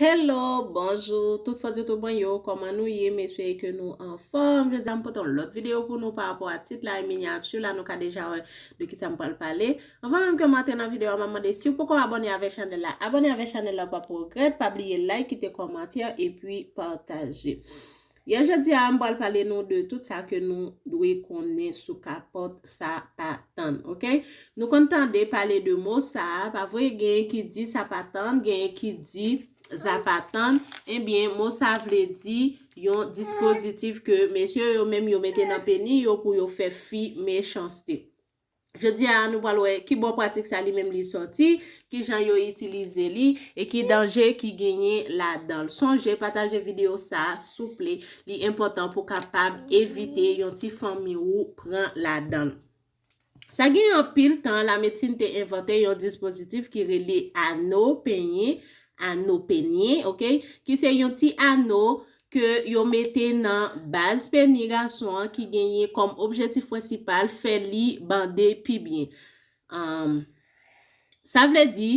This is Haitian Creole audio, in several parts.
Hello bonjou tout fans youtube mwen yo kòman nou ye m espere ke nou anfòm jodi a m pote yon lòt videyo pou nou parapò a tit la e minyati la nou ka deja wè de kisa m pral pale anvan menm ke m antre nan videyo a m ap mande si w poko abòne avèk chanèl la abòne avèk chanèl la w pap regrèt pa bliye like kite kòmantè epi pataje Yè jodi a m pral pale nou de tout sa ke nou dwe konnen sou kapòt sa pa tann ok nou konn tande pale de mo sa pa vre genyen ki di sa pa tann genyen ki di za pa tann ebyen mo sa vle di yon dispozitif ke mesye yo menm yo mete nan peni yo pou yo fè fi mechanste Jodi a, nou pral wè ki bò pratik sa li menm li sòti, ki jan yo itilize li, e ki danje ki genyen ladan l. Sonje pataje videyo sa a souple, li enpòtan pou w kapab evite yon ti fanmi ou pran ladan l. Sa gen anpil tan, lamedsin te envante yon dispozitif ki rele ano, penyen, ano, penyen, ok, ki se yon ti ano ke yo mete nan baz peni gason an ki genyen kòm objetif prensipal fè li bande pi byen. Umm. Sa vle di,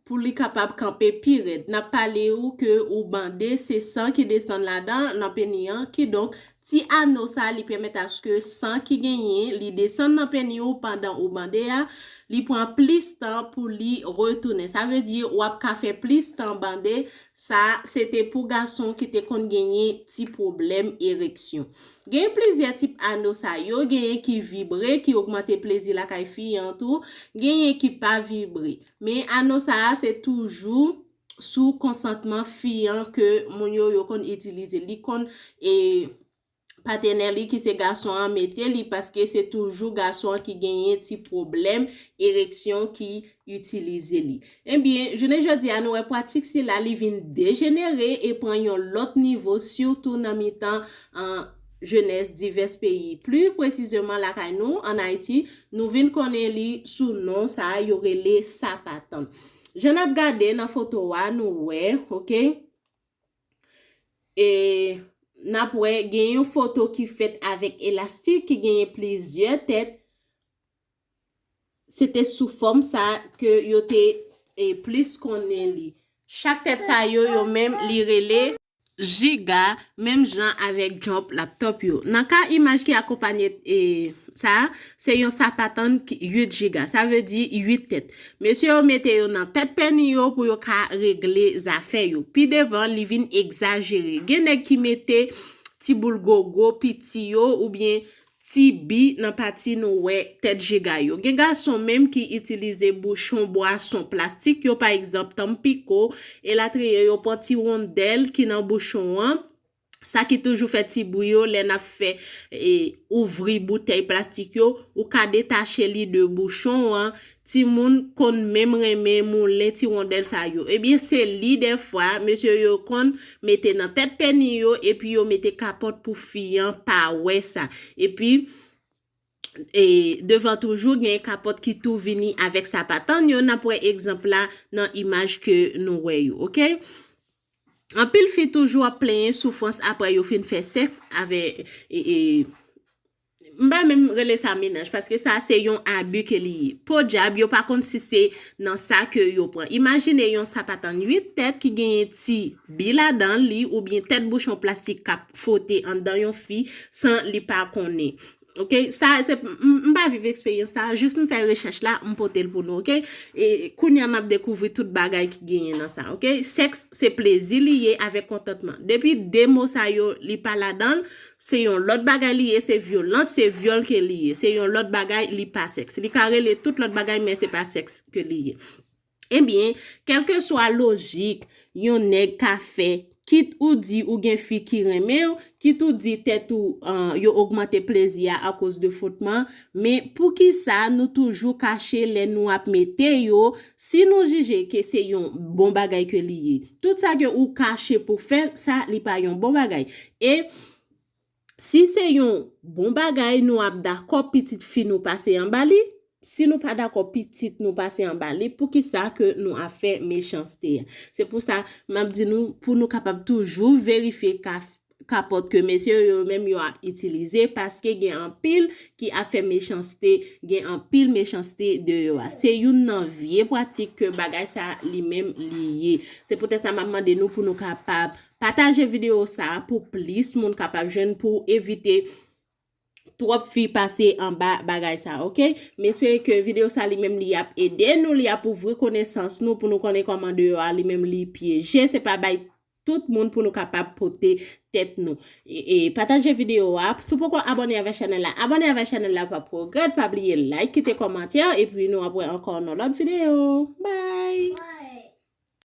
pou li kapab kanpe pi rèd. N ap pale ou ke ou bande, se san ki desann ladan, nan peni an, kidonk, ti ano sa li pèmèt aske san ki genyen, li desann nan peni ou pandan ou bande a, li pran plis tan pou li retounen. Sa vle di, w ap ka fè plis tan bande Sa se te pou gason ki te konn genyen ti pwoblèm ereksyon. Genyen plizyè tip ano sa yo, genyen ki vibre ki ogmante plezi lakay fi an tou, genyen ki pa vibre. Men ano sa a se toujou sou konsantman fi an ke moun yo yo konn itilize. Li konn e. patenè li ki se gason an mete li paske se toujou gason an ki genyen ti pwoblèm ereksyon ki itilize li. Ebyen, jounen jodi a nou wè pwatik sila li vin dejenere e pran yon lòt nivo sitou nan mitan jenès divès peyi. Pli presizeman lakay nou, an Ayiti, nou vin konnen li sou non sa a yo rele sapat. Jan n ap gade nan foto a nou wè, ok. E n ap wè gen yon foto ki fèt avèk elastik ki genyen plizyè tèt. Se te sou fòm sa ke yo te e plis konnen li. Chak tèt sa yo, yo menm li rele. Jiga, menm jan avèk jòp laptòp yo. Nan ka imaj ki akonpanye e sa, se yon sapatann 8 jiga. Sa vle di 8 tèt. Mesye yo mete yo nan tèt pèni yo pou yo ka regle zafè yo. Pi devan, li vin egzajere. Gen nèg ki mete ti boul gogo piti yo oubyen ti bi nan pati nou wè tèt jigay yo. Gen gason menm ki itilize bouchon bwason plastik yo pa egzanp Tampico, elatriye yo pran ti wondèl ki nan bouchon an, sa ki toujou fè ti bri yo lè n ap fè e ouvri boutèy plastik yo, ou ka detache li de bouchon an, timoun konn menm renmen moulen ti rondèl sa yo ebyen se li dèfwa mesye yo konn mete nan tèt peni yo epi yo mete kapòt pou fi an pa wè sa epi e devan toujou gen kapòt ki tou vini avèk sapat ann yo n ap wè egzanp la nan imaj ke nou wè yo ok. Anpil fi toujou ap plenyen soufrans aprè yo fin fè sèks avè e m pa menm rele sa menaj paske sa se yon abi ke li ye. Podyab yo pa konn si se nan sa ke yo pran. Imajine yon sapat an 8 tèt ki genyen ti bi ladan li oubyen tèt bouchon plastik k ap fwote anndan yon fi san li pa konnen. Ok sa se m pa viv eksperyans sa jis m fè rechèch la m pote l pou nou ok kounya map dekouvri tout bagay ki genyen nan sa ok sèks se plezi li ye avèk kontantman depi 2 mo sa yo li pa ladanl se yon lòt bagay li ye se vyolans se vyòl ke li ye se yon lòt bagay li pa sèks li ka rele tout lòt bagay men se pa sèks ke li ye. Ebyen, kèlkeswa lojik yon nèg ka fè, kit ou di ou gen fi ki renmen w, kit ou di tèt ou yo ogmante plezi a akoz de fwotman, men poukisa nou toujou kache lè nou ap mete yo, si nou jije ke se yon bon bagay ke li ye. Tout sa ke ou kache pou fè l, sa li pa yon bon bagay. E. Si se yon bon bagay nou ap dakò pitit fi nou pase anba li, si nou pa dakò pitit nou pase anba li poukisa ke nou ap fè mechanste? Se pou sa m ap di nou pou nou kapab toujou verifye kapòt ke mesye yo yo menm yo ap itilize paske gen anpil ki ap fè mechanste, gen anpil mechanste deyò a. Se youn nan vye pratik ke bagay sa li menm li ye. Se poutèt sa m ap mande nou pou nou kapab Pataje video sa pou plis moun kapab jwenn pouw evite twòp fi pase anba bagay sa ok. M espere ke video sa li menm li ap ede nou li ap ouvri konesans nou pou nou konnen kòman deyò a li menm li pyeje se pa bay tout moun pou nou kapab pote tèt nou. E pataje video a. Si w poko abone avè chanèl la abone avè chanèl la pa pwogrèt pa bliye like kite kòmantè epi nou ap wè ankò nan lòt video. Bye.